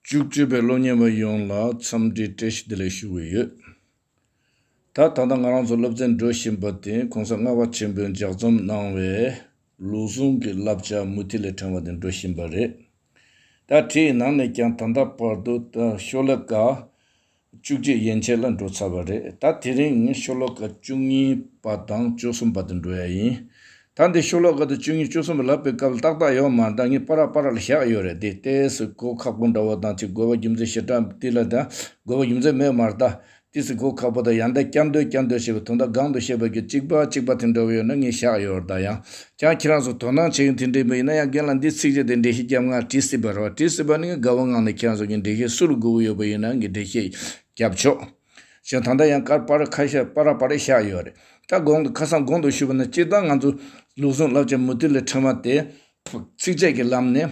བཅུ་གཅིག་པའི་སློབ་གཉེར་བ་ཡོངས་ལ་འཚམས་འདྲིའི་བཀྲ་ཤིས་བདེ་ལེགས་ཞུ་གི་ཡོད། ད་ད་ལྟ་ང་རང་ཚོ་སློབ་ཚན་འགྲོ་བཞིན་པ་དེ་གོང་ས་ལྔ་བ་ཆེན་པོས་ལྗགས་རྩོམ་གནང་བའི་ལུགས་ཟུང་གི་བསླབ་བྱ་མུ་ཐི་ལས་དྲངས་བ་དེ་འགྲོ་བཞིན་པ་རེད། ད་དེའི་ནང་ནས་ཀྱང་ད་ལྟ་བར་དུ་ཤོ་ལེ་ཀ། བཅུ་གཅིག་ཡན་ཆད་ལ་འགྲོ་ཚར་བ་རེད་ད་དེ་རིང་ངས་ཤོ་ལོ་ཀ་བཅུ་གཉིས་པ་དང་བཅུ་གསུམ་པ་དུ་འགྲོ་ཡ་ཡིན། ད་འདི་ཤོ་ལོ་ཀ་དུ་བཅུ་གཉིས་བཅུ་གསུམ་པ་ལབ་པའི་སྐབས་ཏག་ཏག་ཡོད་མ་ད་ངས་པ་རག་པ་རག་ལ་བཞག་ཡོད་རེད་དེ་ལྟས་སུ་སྒོ་ཁག་པོ་འདྲ་བོ་དང་ཚིག་རྒོལ་བ་རྒྱུ་མཚན་ཞེ་དྲག་དེ་ལ་ད་རྒོལ་བ་རྒྱུ་མཚན་མེད་མར་ད་དེ་སུ་སྒོ་ཁག་པོ་དང་ཡང་ད་སྐྱར་འདོད་སྐྱར་འདོད་བྱེད་པའི་དུང་བརྡ་སྒང་དུ་བཤད་པ་རྒྱུ་གཅིག་པ་གཅིག་པ་དེ་འདྲ་བོ་ཡོད་ན་ངས་བཞག་ཡོད་རེད་ད་ཡང་ཀྱང་ཁྱེད་རང་ཚོ་དོ་སྣང་བྱེད་མཁན་དེ་འདྲའི་མི་ཡིན་ན་ཡང་རྒན་ལགས་འདིས་ཚིག་གཅིག་དེ་འགྲེལ་བཤད་རྒྱབ་ངང་བྲིས་སྲིད་པ་རེད་བ་བྲིས་སྲིད་པ་ནི་དགའ་བོ་ངང་ནས་ཁྱེད་རང་ཚོ་ཀྱི་འགྲེལ་བཤད་སུ་རུ་དགོས་ཀྱི་ཡོད་པ་ཡིན་ན་ངས་འགྲེལ་བཤད་རྒྱབ་ཆོག་ཞེས་ད་ལྟ་ཡང་ཀར་པ་ར་ཁ་ཤ་པ་ར་པ་རེ་བཞག་ཡོད་རེད་ད་དགོངས་དག་ཁ་སང་དགོངས་དག་ཞུས་པ་ན་སྤྱིར་བཏང་ང་ཚོ་ལུགས་ཟུང་བསླབ་བྱ་མུ་མཐུད་ལས་འཕྲོས་མ་སྟེ། ཚིགས་བཅད་ཀྱི་ལམ་ནས།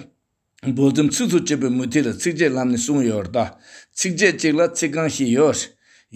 འབོལ་རྩོམ་ཚིག་ཚུགས་བྱེད་པའི་མུ་ཐིག་ལ་ཚིགས་བཅད་ལམ་ནས་གསུངས་ཡོད་ལྟ། ཚིགས་བཅད་གཅིག་ལ་ཚིག་རྐང་བཞི་ཡོད།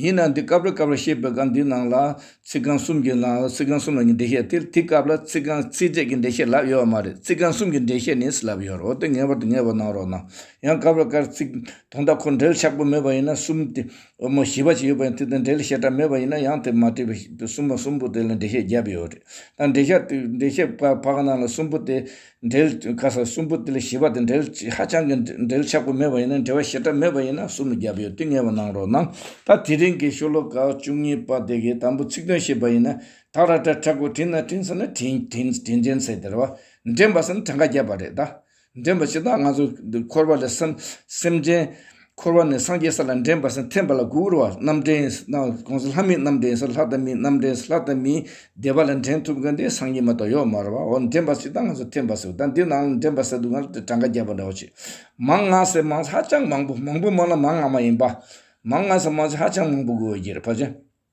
ཡིན་ནའང་འདི་སྐབས་རེ་སྐབས་རེ་ཞེས་པའི་སྐབས་འདིའི་ནང་ལ། ཚིག་རྐང་གསུམ་གྱི་ནང་ལ་ཚིག་རྐང་གསུམ་ལ་ནི་འགྲེལ་བཤད་སྟེར་དུས་སྐབས་ལ་ཚིག་རྐང་ཚིགས་བཅད་ཀྱི་འགྲེལ་བཤད་ལབ་ཡོད་མ་རེད་ཚིག་རྐང་གསུམ་གྱི་འགྲེལ་བཤད་ནི་སུ་ལབ་ཡོད་རེད་འོ་དེ་ངེས་པར་དུ་ངེས་པར་གནང་རོགས་གནང། ཡང་སྐབས་རེ་སྐབས་རེ་ཚིག་དོན་དག་ཁོ་འགྲེལ་ཆགས་པོ་མེད་པ་ཡིན་ན་གསུམ་སྟེ། འོ་མ་བཞི་བ་ཞིག་ཡོད་པ་ཡིན་དུས་དེ་འགྲེལ་བཤད་གྲབས་མེད་པ་ཡིན་ན་ཡང་དེ་མ་བྲིས་པའི་གསུམ་པ་གསུམ་པོ་དེ་ལ་འགྲེལ་བཤད་བརྒྱབ་ཡོད་རེད། ད་འགྲེལ་བཤད་འགྲེལ་བཤད་བག་ནང་ལ་གསུམ་པོ་དེ། འབྲེལ་ཁ་སང་གསུམ་པོ་དེ་ལ་བཞི་པ་དང་འབྲེལ་ཧ་ཅང་གི་འབྲེལ་ཆགས་པོ་མེད་པ་ཡིན་ན་འབྲེལ་བ་ཞེ་དྲག་མེད་པ་ཡིན་ན་གསུམ་ལ་བརྒྱབ་ཡོད་དུས་ངེས་པར་གནང་རོགས་གནང། ད་དེ་རིང་གི་ཤོ་ལོ་ཀ་བཅུ་གཉིས་པ་དེ་གའི་དང་པོ་ཚིག་དོན་ཤེས་པ་ཡིན་ན་ད་ར་ཏྲ་ཁྲ་ཁོ་དྲིན་ན་དྲིན་ཟེར་ན་དྲིན་དྲིན་དྲིན་དྲིན་ཟེར་དེར་བ་འདྲེན་པ་ཟེར་ན་གྲངས་ཀ་བརྒྱབ་པ་རེད་ད། འདྲེན་པ་ཕྱི་ད་ང་ཚོ་འཁོར་བ་ལས་སེམས་སེམས་ཅན། འཁོར་བ་ནི་སངས་རྒྱས་ས་ལ་འདྲེན་པར་སེམས་འཐེན་པ་ལ་དགུ་བར་བ་རྣམས་འདྲེན། གོང་གསལ་ལྷ་མིན་རྣམས་འདྲེན་སོགས་ལྷ་དང་མིན་རྣམས་འདྲེན་སོགས་ལྷ་དང་མིན་བདེ་བ་ལ་འདྲེན་ཐུབ་མཁན་དེ་སངས་རྒྱས་མ་གཏོགས་ཡོད་མ་རེད་བ་འོ་ན་འདྲེན་པ་ཞིག་དང་ང་ཚོ་འཐེན་པ་ཞིག་ད་འདི་ནང་ལ་འདྲེན་པ་ཟེར་འདུག་ང་ལ་དེ་གྲངས་ཀ་བརྒྱ་པ་འདྲ་བོ་བྱེད། མང་ང་ཟེར་མང་ཧ་ཅང་མང་པོ་མང་པོ་མང་ན་མང་ང་མ་ཡིན་པ། མང་ང་ཟེར་མང་ཆེ་ཧ་ཅང་མང་པོ་དགོས་འོས་ཀྱི་རེད་བ་ཅན།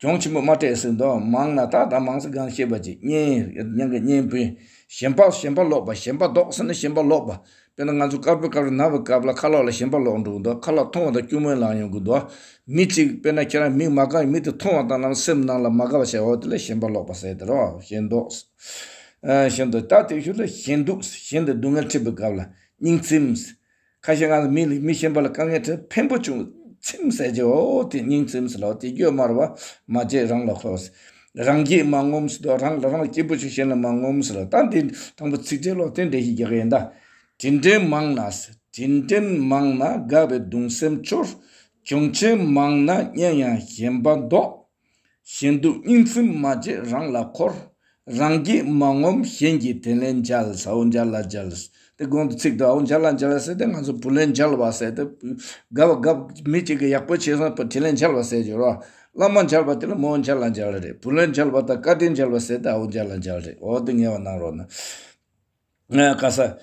གྱོང་ཆེན་པོ་མ་སྤྲད་སྲིད་མདོག་མང་ན་དག་དང་མང་སྲིད་གང་ཤེས་པ་ཅི། གཉེན་གྱི་གཉེན་པོས་ཞེན་པ་ཞེན་པ་ལོག་པ་ཞེན་པ་ལྡོག་ཟེར་ན་ཞེན་པ་ལོག་པ། དཔེར་ན་ང་ཚོ་དཀར་པོའི་སྐབས་རེ་ན་བའི་སྐབས་ལ་ཁ་ལོག་ལ་ཞེན་པ་ལོག་འགྲོ་གི་འདུག་ཁ་ལག་ཐུང་བ་དང་སྐྱུར་མོའི་ལག་ཡོང་གི་འདུག་མི་གཅིག་དཔེར་ན་ཁྱེད་རང་མིག་མ་དགའ་བའི་མི་དེ་ཐུང་བ་དང་ལམ་སེམས་ནང་ལ་མ་དགའ་བ་བྱས་འོ་དེ་ལ་ཞེན་པ་ལོག་པ་ཟེར་དེ་རོ་ཞེན་མདོག། ཞེན་མདོག་ད་དེ་བཞུགས་ལ་ཞེན་སྡུག་ཞེན་དེ་སྡུག་བསྔལ་ཁྲིད་པའི་སྐབས་ལ་སྙིང་ཚིམས། ཁ་ཤས་ང་ལ་མི་ལས་མི་ཞན་པ་ལ་དཀའ་ངལ་ཁྲོད་ཕན་པོ་བྱུང་ཚིམ་ཟས་རྗེས་ཨོ་དེ་སྙིང་ཚིམ་སི་ལོ་དེ་རྒྱུ་དམར་བ་མ་བརྗེད་རང་ལ་ཁོ་སི། རང་རྒྱས་མ་ངོམ་སི་དོ་རང་ལ་རང་ལ་སྐྱིད་པོ་བྱོས་གཞན་ལ་མ་ངོམ་སི་ལོ་ད་འདི་དང་པོ་ཚིག་འགྲེལ་ལོག་དེ་འགྲེལ་ཞིག་རྒྱག་གི་ཡིན་ད། དྲིན་དྲན་མང་ན་སི་དྲིན་དྲན་མང་ན་དགའ་བའི་གདུང་སེམས་འཆོར། གྱོང་ཆེན་མང་ན་སྙན་ཡང་ཞེན་པ་འདོགས། གཞན་དུ་སྙིང་སེམས་མ་བརྗེ་རང་ལ་འཁོར། རང་རྒྱལ་མ་ངོམས་གཞན་གྱི་དེ་ལས་འཇལ། ཨོ་འཇལ་ལ་འཇལ། དེ་གོང་གི་ཚིག་དང་ཨོ་འཇལ་ལ་འཇལ་ཟེར་ཏེ་ང་ཚོ་བུ་ལས་འཇལ་བ་ཟེར་ཏེ། དགའ་བ་དགའ་བོ་མི་གཅིག་གིས་ཡག་པོ་བྱས་ཟིན་པ་དེ་ལས་འཇལ་བ་ཟེར་གྱི། བླ་མ་འཇལ་བ་དེ་ལ་མོ་འཇལ་ལ་འཇལ་རེད། བུ་ལས་འཇལ་བ་དང་བཀའ་དྲིན་འཇལ་བ་ཟེར་ཏེ་ཨོ་འཇལ་ལ་འཇལ་རེད། འོ་དེ་ངེས་བ་གནང་རོགས་གནང། བཀའ་ས།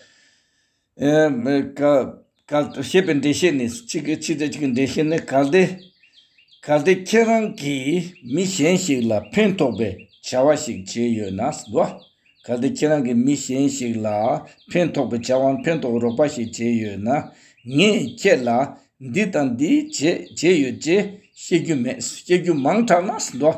ཞེས་པའི་འགྲེལ་བཤད་ནི། ཕྱི་དང་ཕྱི་དང་གྱི་འགྲེལ་བཤད་ནི་གལ་ཏེ། གལ་ཏེ་ཁྱེད་རང་གིས་མི་གཞན་ཞིག་ལ་ཕན་ཐོགས་པའི་བྱ་བ་ཞིག་བྱས་ཡོད་ན་ཟློ། གལ་ཏེ་ཁྱེད་རང་གིས་མི་གཞན་ཞིག་ལ་ཕན་ཐོགས་པའི་བྱ་བ་ཕན་ཐོགས་རོགས་པ་ཞིག་བྱས་ཡོད་ན། ངས་ཁྱེད་ལ་འདི་དང་འདི་བྱས་ཡོད་ཅེས་བཤད་རྒྱུ་མེད་བཤད་རྒྱུ་མང་དྲགས་ན་ཟློ།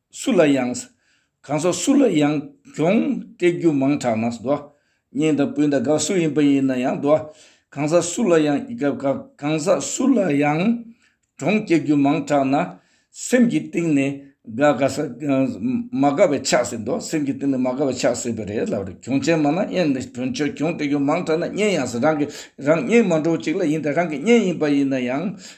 སུ་ལ་ཡང། གང་ཟག་སུ་ལ་ཡང་གྱོང་སྤྲད་རྒྱུ་མང་དྲགས་ན་བཟློག། གཉེན་དང་སྤུན་དང་དགའ་སུ་ཡིན་པ་ཡིན་ན་ཡང་བཟློག། གང་ཟག་སུ་ལ་ཡང་ཡི་ག་བཀག། གང་ཟག་སུ་ལ་ཡང་གྱོང་བསྐྱལ་རྒྱུ་མང་དྲགས་ན། སེམས་ཀྱི་གཏིང་ནས་དགའ་དགའ་ས། མ་དགའ་བའི་ཆགས་སེ་བཟློག་སེམས་ཀྱི་གཏིང་ནས་མ་དགའ་བའི་ཆགས་སེ་བ་རེད་ལབ་རེད་གྱོང་ཆེན་མ་ན་གཉེན་ནས་དོན་ཆོས་གྱོང་སྤྲད་རྒྱུ་མང་དྲགས་ན་གཉེན་ཡང་ཟེར་རང་གི་རང་གཉེན་མ་འགྲོ་བ་ཅིག་ལ་ཡིན་དང་རང་གི་གཉེན་ཡིན་པ་ཡིན་ན་ཡང།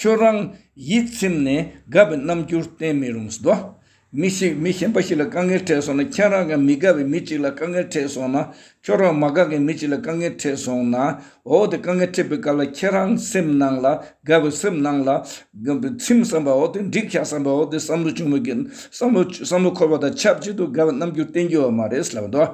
ཁྱོད་རང་ཡིད་ཚིམ་ནས་དགའ་བའི་རྣམ་འགྱུར་བསྟན་མི་རུང་ཟློ། མི་ཞིག་མི་གཞན་པ་ཞིག་ལ་དཀའ་ངལ་འཕྲད་སོང་ན་ཁྱེད་རང་གིས་མི་དགའ་བའི་མི་གཅིག་ལ་དཀའ་ངལ་འཕྲད་སོང་ན་ཁྱོད་རང་མ་དགའ་མཁན་མི་གཅིག་ལ་དཀའ་ངལ་འཕྲད་སོང་ན་འོ་དེ་དཀའ་ངལ་འཕྲད་པའི་སྐབས་ལ་ཁྱེད་རང་སེམས་ནང་ལ་དགའ་བའི་སེམས་ནང་ལ་ཚིམ་བསམ་པ་འོ་དེ་འགྲིག་བྱ་བསམ་པ་འོ་དེ་བསམ་བློ་བྱུང་བའི་གན་བསམ་བློ་བསམ་བློ་འཁོར་བ་དང་ཆབས་ཅིག་ཏུ་དགའ་བའི་རྣམ་འགྱུར་བསྟན་རྒྱུ་བ་མ་རེད་ཟློ།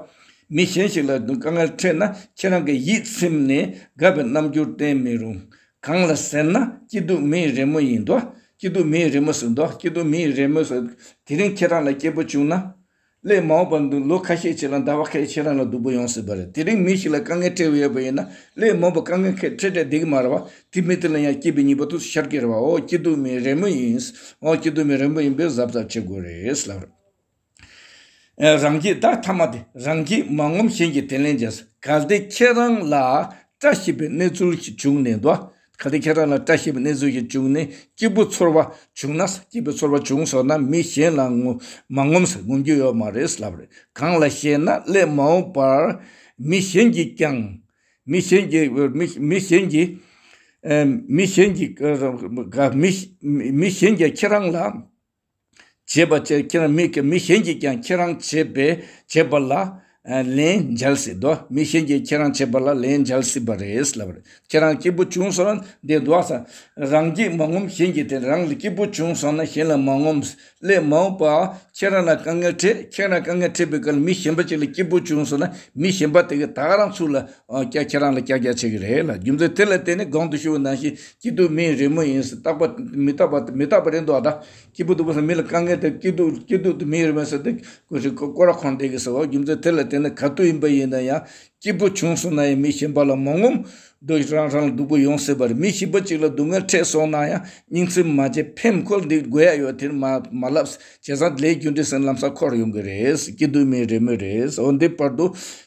མི་གཞན་ཞིག་ལ་དཀའ་ངལ་འཕྲད་ན་ཁྱེད་རང་གིས་ཡིད་ཚིམ་ནས་དགའ་བའི་རྣམ་འགྱུར་བསྟན་མི་རུང། གང་ལ་ཟེར་ན་སྐྱིད་སྡུག་མི་ཡི་རེ་སྨོན་ཡིན་འདུག་སྐྱིད་སྡུག་མི་ཡི་རེ་སྨོན་སུ་འདུག་སྐྱིད་སྡུག་མི་ཡི་རེ་སྨོན་སུ། དེ་རིང་ཁྱེད་རང་ལ་སྐྱེས་བུ་བྱུང་ན། སླད་མ་འོངས་པར་འདུག་ལོ་ཁ་ཤས་ཕྱི་ལ་ཟླ་བ་ཁ་ཤས་ཁྱེད་རང་ལ་སྡུག་པོ་ཡོང་སྲིད་པ་རེད་དེ་རིང་མི་ཞིག་ལ་དཀའ་ངལ་འཕྲད་འོས་ཡོད་པ་ཡིན་ན་སླད་མ་འོངས་པར་དཀའ་ངལ་ཁད་འཕྲད་འཕྲད་འདེགས་མ་རེད་བ་དེ་མི་དེ་ལ་ཡང་སྐྱིད་པའི་ཉིན་པོ་ཐུགས་སུ་ཤར་གྱི་རེད་བ་འོ་སྐྱིད་སྡུག་མི་ཡི་རེ་སྨོན་ཡིན་འོ་སྐྱིད་སྡུག་མི་ཡི་རེ་སྨོན་ཡིན་པས་གཟབ་གཟབ་བྱེད་དགོས་རེད། རང་གིས་བདག་ཐ་མ་སྟེ་རང་གིས་མ་ངོམས་གཞན་གྱིས་དེ་ལེན་བྱས་སོ། གལ་ཏེ་ཁྱེད་རང་ལ་བཀྲ་ཤིས་པའི་གནས་ཚུལ་ཞིག་བྱུང་ནས་དོ། གལ་ཏེ་ཁྱེད་རང་ལ་བཀྲ་ཤིས་པའི་གནས་ཚུལ་ཞིག་བྱུང་ནས་སྐྱིད་པོ་ཚོར་བ་བྱུང་ན། སྐྱིད་པོ་ཚོར་བ་བྱུང་སོང་ན་མི་གཞན་ལ་མ་ངོམས་སུ་ངོམས་རྒྱུ་ཡོད་མ་རེད་ལབ་རེད། གང་ལ་ཞེ་ན་སླད་མ་འོངས་པར་མི་གཞན་གྱིས་ཀྱང། མི་གཞན་གྱིས། མི་གཞན་གྱིས། མི་གཞན་གྱིས་ཁྱེད་རང་ལ། བྱེད་པ་ཕྱིར་ཁྱེད་རང་མིག་གིས་མི་གཞན་གྱིས་ཀྱང་ཁྱེད་རང་བྱེད་པའི་བྱེད་པ་ལ་ལན་འཇལ་སྲིད་དོ། མི་གཞན་གྱིས་ཁྱེད་རང་བྱེད་པ་ལ་ལན་འཇལ་སྲིད་པ་རེད་ལབ་རེད། ཁྱེད་རང་སྐྱིད་པོ་བྱུང་སོང་འདི་འདུག་ས། རང་སྐྱིད་མ་ངོམས་གཞན་གྱིས་དེ་རང་ལ་སྐྱིད་པོ་བྱུང་སོང་ན་གཞན་ལ་མ་ངོམས། སླད་མ་འོངས་པར་ཁྱེད་རང་ལ་དཀའ་ངལ་འཕྲད་ཁྱེད་རང་དཀའ་ངལ་འཕྲད་པའི་སྐབས་ལ་མི་གཞན་པ་ཅིག་ལ་སྐྱིད་པོ་བྱུང་སོང་ན་མི་གཞན་པ་དེ་ག་ད་རང་ཚུགས་ལ་ཁྱེད་རང་ལ་ཀྱག་ཀྱག་བྱེད་ཀྱི་རེད་ལ་རྒྱུ་མཚན་དེ་ལ་བརྟེན་ནས་སྒང་དུ་ཤི་བོ་ནང་བཞིན་སྐྱིད་སྡུག་མིའི་རི་མོ་ཡིན་ཟེར་རྟག་པ་མི་རྟག་པ་དེ་མི་རྟག་པ་རེད་འདུག་ཨ་ད། སྐྱིད་པོ་སྡུག་པོ་ཟེར་མི་ལ་དཀའ་ངལ་དེ་སྐྱིད་སྡུག་སྐྱིད་སྡུག་དེ་མིའི་རི་མོ་ཟེར་ཏེ། ཀུ་ཤྲི་ཀོ་ཀོ་ར་ཁོང་བསྡད་གི་ཟེར་བ་རྒྱུ་མཚན་དེ་ལ་བལྟས་ན་ག་དུས་ཡིན་པ་ཡིན་ན་ཡང་སྐྱིད་པོ་བྱུང་སོང་ན་ཡང་མི་གཞན་པ་ལ་མ་ངོམ། སྡུག་རང་རང་ལ་སྡུག་པོ་ཡོང་སྲིད་པ་རེད་མི་གཞི་པ་གཅིག་ལ་སྡུག་བསྔལ་འཕྲད་སོང་ན་ཡང་སྙིང་ཚིམ་མ་བྱེད་ཕེམ་ཁོལ་འདི་དགོས་ཡ་ཡོད་དེར་མ་མ་ལབ། བྱས་ཙང་ལས་རྒྱུ་འབྲས་སེམས་ལམ་ས་ཁོ་རུ་ཡོང་གི་རེད། སྐྱིད་སྡུག་མིའི་རི་མོ་རེད། འོ་འདི་བར་དུ།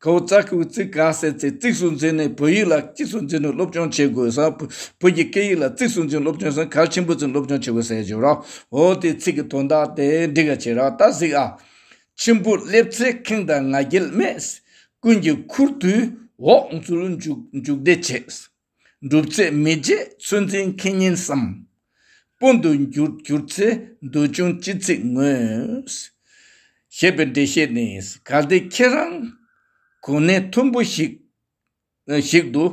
ཁོ་བོ་ཅག་གིས་བོད་ཚིག་ག་ཟེར་ཚེ་གཙིགས་སུ་འཛིན་ནས་བོད་ཡིག་ལ་གཙིགས་སུ་འཛིན་ནས་སློབ་སྦྱོང་བྱེད་དགོས་སམ། བོད་ཀྱི་སྐད་ཡིག་ལ་གཙིགས་སུ་འཛིན་སློབ་སྦྱོང་ཟེར་ན་གལ་ཆེན་པོ་འཛིན་སློབ་སྦྱོང་བྱེད་དགོས་ཟེར་གྱི་རོགས། འོ་དེའི་ཚིག་གི་དོན་དག་དེ་འདི་ག་བྱེད་རོགས་ད་གཟིགས་ཨ། མཆིམས་ཕུ་སླེབས་ཚེ་ཁེངས་དང་ང་རྒྱལ་མེད། ཀུན་གྱིས་ཁུར་དུས་འོག་འཛུལ་འཇུག་འཇུག་བདེ་བྱེད། འགྲུབ་ཚེ་མི་རྗེ་ཚུལ་འཛིན་མཁས་སྙན་བསམ། སྤུན་དུ་འགྱུར་གྱུར་ཚེ་འདོད་ཆུང་ཅི་ཚིག་ངོས། ཞེས་པའི་འགྲེལ་བཤད་ནི་གལ་ཏེ་ཁྱེད་རང་གོ་གནས་མཐོན་པོ་ཞིག་ཞིག་ཏུ་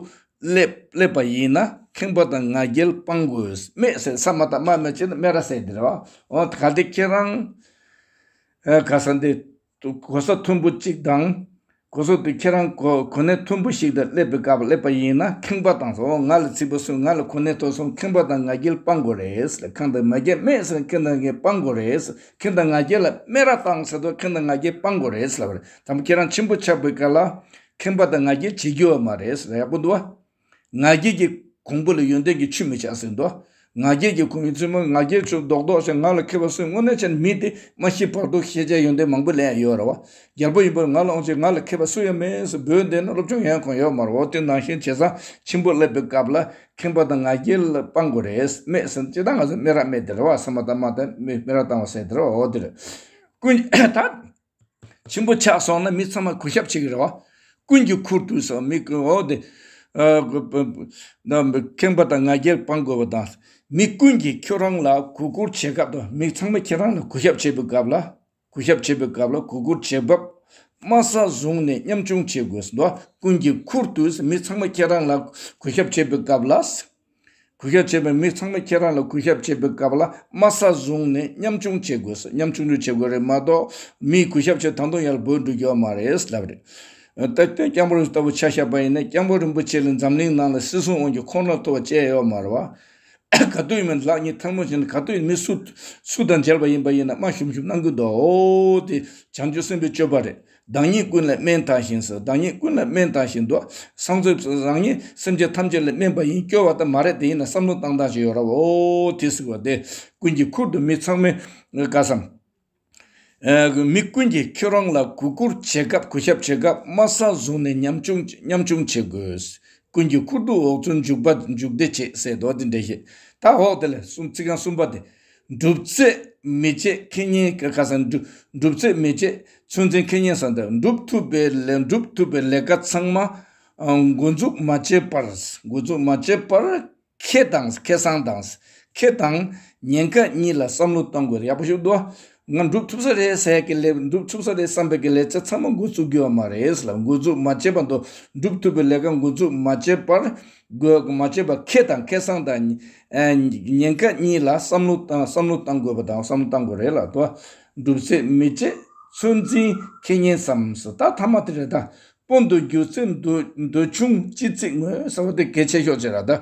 སླེབས་པ་ཡིན་ན་ཁེངས་པ་དང་ང་རྒྱལ་སྤང་དགོས། སྨྲས་ཟེར་ས་མ་ཏག་སྨྲ་མི་བྱེད་ན་སྨྲས་ར་ཟེར་དེ་རེད། གལ་ཏེ་ཁྱེད་རང་ག་ས་འདི། དུ་གོ་ས་མཐོན་པོ་གཅིག་དང། གོ་ས་དུ་ཁྱེད་རང་གོ་གནས་མཐོན་པོ་ཞིག་ཏུ་སླེབས་པའི་སྐབས་སླེབས་པ་ཡིན་ན་ཁེངས་པ་དང་སོང་ང་ལ་ཚིག་པ་སོང་ང་ལ་གོ་གནས་མཐོ་སོང་ཁེངས་པ་དང་ང་རྒྱལ་སྤང་དགོས་རེད་ཁེངས་དང་ང་རྒྱལ་སྨད་སོང་ཁེངས་དང་ང་རྒྱལ་སྤང་དགོས་རེད་ཁེངས་དང་ང་རྒྱལ་ལ་སྨད་ར་བཏང་ཟེར་དུ་ཁེངས་དང་ང་རྒྱལ་སྤང་དགོས་རེད་ད་དུང་ཁྱེད་རང་ཆེན་པོ་ཆགས་པའི་སྐབས་ལ་ཁེངས་པ་དང་ང་རྒྱལ་བྱེད་རྒྱུ་བ་མ་རེད་ཡག་པོ་འདུག་བ། ང་རྒྱལ་གྱི་གོང་བུ་ལ་ཡོན་ཏན་གྱི་ཆུ་མི་ཆགས་ཟེར་དོ། ང་རྒྱལ་གྱི་གོང་བུའི་བཙུན་མོ་ང་རྒྱལ་ཆུ་རྡོག་རྡོག་ཅིག་ང་ལ་ཁེལ་བ་སུས་སྔོན་ནས་ཅན་མི་དེ་མ་ཤི་བར་དུ་ཤེས་བྱའི་ཡོན་ཏན་མང་པོ་ལས་ཡོད་ར་བ་རྒྱལ་པོ་ཡིན་པར་ང་ལ་འོང་ཅིག་ང་ལ་ཁེལ་བ་སུ་ཡང་མེད་ཟེར་འབོད་འདི་ནི་སློབ་ཆུང་ཡན་གང་ཡོད་མ་རོག་སྟེ་ནང་བཞིན་བྱེད་བཟང་ཆེན་པོ་སླེབས་པའི་སྐབས་ལ་ཁེངས་པ་དང་ང་རྒྱལ་ལ་དཔང་དགོས་རེད་སྨྲས་ཟིན་ཅི་ལྟར་ང་ཚོས་སྨད་ར་སྨད་དེ་ར་བ་སེ་མ་ད་མ་ད་སྨད་ར་བཏང་བ་ཟེར་དེ་ར་བ་འོ་དེ་རེད། ཀུན་དགའ། ཆེན་པོ་ཆགས་སོང་ན་མི་ཚང་མ་གུས་ཞབས་བྱེད་ཀྱི་རེད་བ། ཀུན་གྱིས་ཁུར་དུ་བཞག་མི་དགོས་འོ་དེ། ཁེངས་པ་དང་ང་རྒྱལ་སྤང་དགོས་པ་དང། མི་ཀུན་གྱིས་ཁྱོད་རང་ལ་གུས་བཀུར་བྱེད་སྐབས་དང་མི་ཚང་མ་ཁྱེད་རང་ལ་གུས་ཞབས་བྱེད་པའི་སྐབས་ལ། གུས་ཞབས་བྱེད་པའི་སྐབས་ལ་གུས་བཀུར་བྱེད་སྐབས། དམའ་ས་བཟུང་ནས་མཉམ་ཆུང་བྱེད་དགོས་ཟེར་འདུག་བ། ཀུན་གྱིས་ཁུར་དུ་བཞག་མི་ཚང་མ་ཁྱེད་རང་ལ་གུས་ཞབས་བྱེད་པའི་སྐབས་ལ། གུས་ཞབས་བྱེད་པའི་མི་ཚང་མས་ཁྱེད་རང་ལ་གུས་ཞབས་བྱེད་པའི་སྐབས་ལ་དམའ་ས་བཟུང་ནས་ཉམ་ཆུང་བྱེད་དགོས་སོ་ཉམ་ཆུང་ཆུང་བྱེད་དགོས་རེད་མ་གཏོགས་མིས་གུས་ཞབས་བྱེད་ད་དུང་ཡར་དགོས་འགྲོ་རྒྱུ་བ་མ་རེད་ལབ་རེད། ད་སྐྱོན་སྐྱབས་རོགས་ལྟ་བུ་ཆགས་ཤག་པ་ཡིན་ན་སྐྱབས་མགོན་རིན་པོ་ཆེ་ལས་འཛམ་གླིང་ནང་ལ་སྲིད་གསུམ་དབང་གྱི་ཁོང་ར་ཐོབ་བ་ཅལ་ཡོད་མ་རེད་བ། ག་དུས་མིན་ལག་གཉིས་ཐལ་མོ་བྱས་ནས་ག་དུས་མི་སུ་སུ་དང་མཇལ་བ་ཡིན་པ་ཡིན་ན་དམའ་ཞུམ་ཞུམ་གནང་གི་འདུག་དེ་བྱང་ཆུབ་སེམས་པའི་སྤྱོད་པ་རེད། བདག་ཉིད་ཀུན་ལ་སྨན་དང་བཞིན་སོ་བདག་ཉིད་ཀུན་ལ་སྨན་དང་བཞིན་དུ། སངས་རྒྱས་སུ་རང་ཉིད་སེམས་ཅན་ཐམས་ཅད་ལ་སྨན་པ་ཡིན་སྐྱོ་བ་དང་མ་རེད་དེ་ཡིན་ན་བསམ་བློ་བཏང་བཏང་ཅིག་ཡོད་རབ་ཨོ་དེ་ཟིག་བ་དེ་ཀུན་གྱི་ཁུར་དུ་མི་ཚང་མས་དགའ་བསམ། མི་ཀུན་གྱིས་ཁྱོད་རང་ལ་གུས་བཀུར་བྱེད་སྐབས་གུས་ཞབས་བྱེད་སྐབས་སྨྲ་བསམ་བཟུང་ནས་ཉམས་ཆུང་བྱེད་དགོས། ཀུན་གྱི་ཁུར་དུ་འོག་ཚོད་འཇུག་པ་འཇུག་བདེ་བྱེད་ཟེར་དོ་དེ་འདྲ་ཞིག་ད་འོག་དེ་ལ་གསུམ་ཚིག་རྐང་གསུམ་པ་དེ། སྒྲུབ་རྩལ་མི་བརྗེད་ཁེ་ཉེན་གྱི་ཁ་སང་སྒྲུབ་རྩལ་མི་བརྗེད་ཚོད་འཛིན་ཁེ་ཉེན་ཟེར་འདུག་འགྲུབ་ཐུབ་པའི་སྒྲུབ་ཐུབ་པའི་ལས་ཀ་ཚང་མ་འགོ་འཛུགས་མ་བྱས་པར་འགོ་འཛུགས་མ་བྱས་པར་ཁེ་དང་ཁེ་སང་དང་ཁེ་དང་ཉེན་ཁ་གཉིས་ལ་བསམ་བློ་གཏོང་དགོས་རེད་ཡག་པོ་ཞུ་འདུག་ང་འགྲུབ་ཐུབ་ས་རེད་ཟེར་གི་ལས་འགྲུབ་ཐུབ་ས་རེད་བསམ་པའི་གི་ལས་ཚེ་ཚང་མ་འགོ་བཙུགས་རྒྱུ་བ་མ་རེད་ལ་འགོ་བཙུགས་མ་བྱས་པ་མདོ་འགྲུབ་ཐུབ་པའི་ལས་ཀ་འགོ་བཙུགས་མ་བྱས་པར་དགོས་མ་བྱས་པ་ཁེ་དང་ཁེ་སང་དང་ཉེན་ཁ་གཉིས་ལ་བསམ་བློ་བསམ་བློ་བཏང་དགོས་པ་དང་བསམ་བློ་བཏང་དགོས་རེད་ལ་མདོ་འགྲུབ་ཚེ་མི་བྱེད་ཚོད་འཛིན་ཁེ་ཉེན་བསམ་ས་ད་ཐ་མ་དེ་རེད་ད་པོ་མདོ་རྒྱུགས་ཚེ་མདོ་ཆུང་སྤྱི་ཚིགས་ངོས་ཟ་བ་དེ་གལ་ཆེ་ཤོག་ཅེས་ར་ད།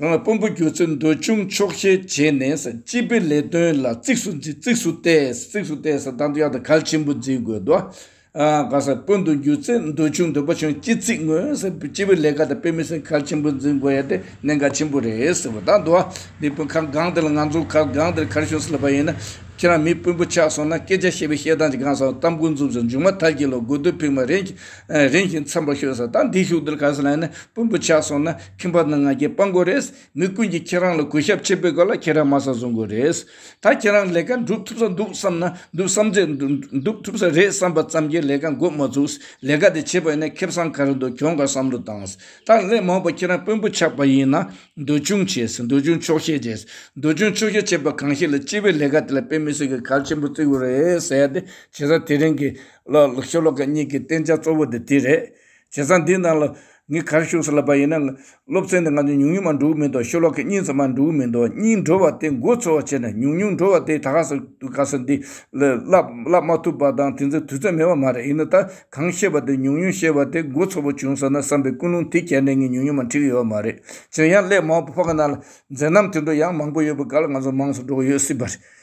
རང་ལ་དཔོན་པོ་གྱུར་ཚེ་འདོད་ཆུང་ཆོག་ཤེས་བྱས་ནས་སྤྱི་པའི་ལས་དོན་ལ་གཙིགས་སུ་འཛིན་གཙིགས་སུ་གཏད་གཙིགས་སུ་གཏད་ས་དང་ཡང་དག་གལ་ཆེན་པོ་འཛིན་དགོས་དོ། གང་ཟག་དཔོན་དུ་འགྱུར་ཚེ་འདོད་ཆུང་འདོད་པ་ཆུང་སྐྱེ་གཙིགས་ངོས་སྤྱི་པའི་ལས་ཀ་དང་དཔེ་མི་སྲིང་གལ་ཆེན་པོ་འཛིན་དགོས་ཡ་དེ་གནད་འགག་ཆེན་པོ་རེད་ཟེར་བ་དང་དུ་བ་འདི་དཔོན་ཁག་སྒང་དེ་ལ་ང་ཚོ་ཁག་སྒང་དེར་ཁར་ཤོང་ཟེར་ལབ་པ་ཡིན་ན་ཁྱེད་རང་མི་དཔོན་པོ་ཆགས་སོང་ན་སྐད་ཆ་བཤད་པའི་བཤད་སྟངས་ཀྱི་གང་ཟག་གཏམ་ཀུན་རྫོབ་ཟེར་མཇུག་མ་མཐར་གྱི་ལོ་དགུ་དུས་ཕིགས་མ་རིང་ཞིང་འཚམས་པ་ཤོད་ས་དང་འདི་ཤུག་དེར་ག་ས་ལ་ཡིན་ན་དཔོན་པོ་ཆགས་སོང་ན་ཁྱིམ་པ་དང་ང་རྒྱལ་སྤང་དགོས་རེད། མི་ཀུན་གྱིས་ཁྱེད་རང་ལ་གུས་ཞབས་བྱེད་པའི་སྐབས་ལ་ཁྱེད་རང་དམའ་ས་བཟུང་དགོས་རེད། ད་ཁྱེད་རང་ལས་ཀ་འགྲུབ་ཐུབ་ས་འདུག་བསམ་ན་འདུག་བསམ་ཚེ་འདུག་ཐུབ་ས་རེད་བསམ་པ་ཙམ་གྱིས་ལས་ཀ་འགོ་མ་བཙུགས། ལས་ཀ་དེ་བྱེད་པ་ཡིན་ན་ཁེ་བཟང་ག་རེ་འདུག་གྱོང་ག་བསམ་བློ་བཏང། ད་སླད་མང་བོ་ཁྱེད་རང་དཔོན་པོ་ཆགས་པ་ཡིན་ན། འདོད་ཆུང་བྱས། འདོད་ཆུང་ཆོག་ཤེས་བྱས། འདོད་ཆུང་ཆོག་ཤེས་བྱས་པ་གང་ཞིག་ལ་སྤྱི་བའི་ལས་ཀ་དེ་ལ་དཔེ་མི་སྲིད་ཀྱི་གལ་ཆེན་པོ་བརྩི་དགོས་རེད་ཟེར་ཡ་དེ་བྱས་ས་དེ་རིང་གི། ཤོ་ལོ་ཀ་གཉིས་ཀྱི་བསྟན་བྱ་གཙོ་བོ་དེ་དེ་རེད། བྱས་ཙང་དེའི་ནང་ལ་ངས་གར་ཞུགས་ས་ལ་བབས་ཡིན་ན་སློབ་ཚན་དེ་ང་ཚོས་ཉུང་ཉུང་མ་འགྲོ་གི་མི་འདུག་ཤོ་ལོ་ཀ་གཉིས་ཙམ་མ་འགྲོ་གི་མི་འདུག་གཉིས་འགྲོ་བ་དེ་མགོ་ཚོ་བ་བྱས་ནས་ཉུང་ཉུང་འགྲོ་བ་དེ་ད་ག་ཟེ་དུས་ག་ཟེ་འདི་བསླབ་མ་ཐུབ་པ་དང་དེ་ཚོའི་དུས་ཚོད་མེད་པ་མ་རེད་ཡིན་ན་ད་གང་ཤེས་པ་དེ་ཉུང་ཉུང་ཤེས་པ་དེ་མགོ་ཚོ་བ་བྱུང་ཟེར་ན་བསམ་པའི་ཀུན་སློང་དེ་གྱེར་ནས་ངས་ཉུང་ཉུང་མ་འཁྲིད་གི་ཡོད་པ་མ་རེད་བྱས་ཡང་སླད་མང་པོ་ཕོག་གི་ན་ལ་མཛད་རྣམ་དེ་འདྲ་ཡང་མང་པོ་ཡོད་པའི་སྐབས་ལ་ང་ཚོ་མང་སུ་འགྲོ་གི་ཡོད་སྲིད་པ་རེད།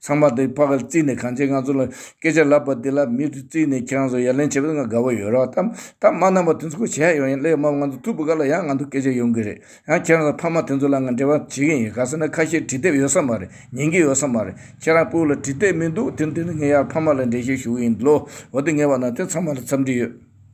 ཚང་མ་དེ་ཕ་ག་ལ་བརྩིས་ནས་གངས་ཅན་ང་ཚོ་ལ་སྐད་ཆ་ལབ་པ་དེ་ལ་མི་རེ་བརྩིས་ནས་ཁྱེད་རང་ཚོ་ཡ་ལན་བྱེད་པ་དེ་ང་དགའ་བོ་ཡོད་རོགས་ཐ་ཐ་མ་རྣམ་པ་དེ་ཚོ་ཁུ་བྱས་ཡོང་ཡིན་སླད་མ་ང་ཚོ་ཐུག་པ་ག་ལ་ཡང་ང་ཚོ་སྐད་ཆ་ཡོང་གི་རེད་ཡང་ཁྱེད་རང་ཚོ་ཕ་མ་དེ་ཚོ་ལ་ང་འབྲེལ་བ་བྱེད་ཀྱི་ཡིན་ག་ས་ན་ཁ་ཤས་བྲིས་དེབ་ཡོད་ས་མ་རེད་ཉན་གྱི་ཡོད་ས་མ་རེད་ཁྱེད་རང་སྤུ་ལ་བྲིས་དེབ་མི་འདུག་དེ་འདི་ནས་ངས་ཡར་ཕ་མ་ལ་འབྲེལ་བཤད་ཞུ་གི་ཡིན་ལོ་འོ་དེ་ངས་བ་ན་དེ་ཚང་མ་ལ་འཚམས་འདྲི་ཡོད།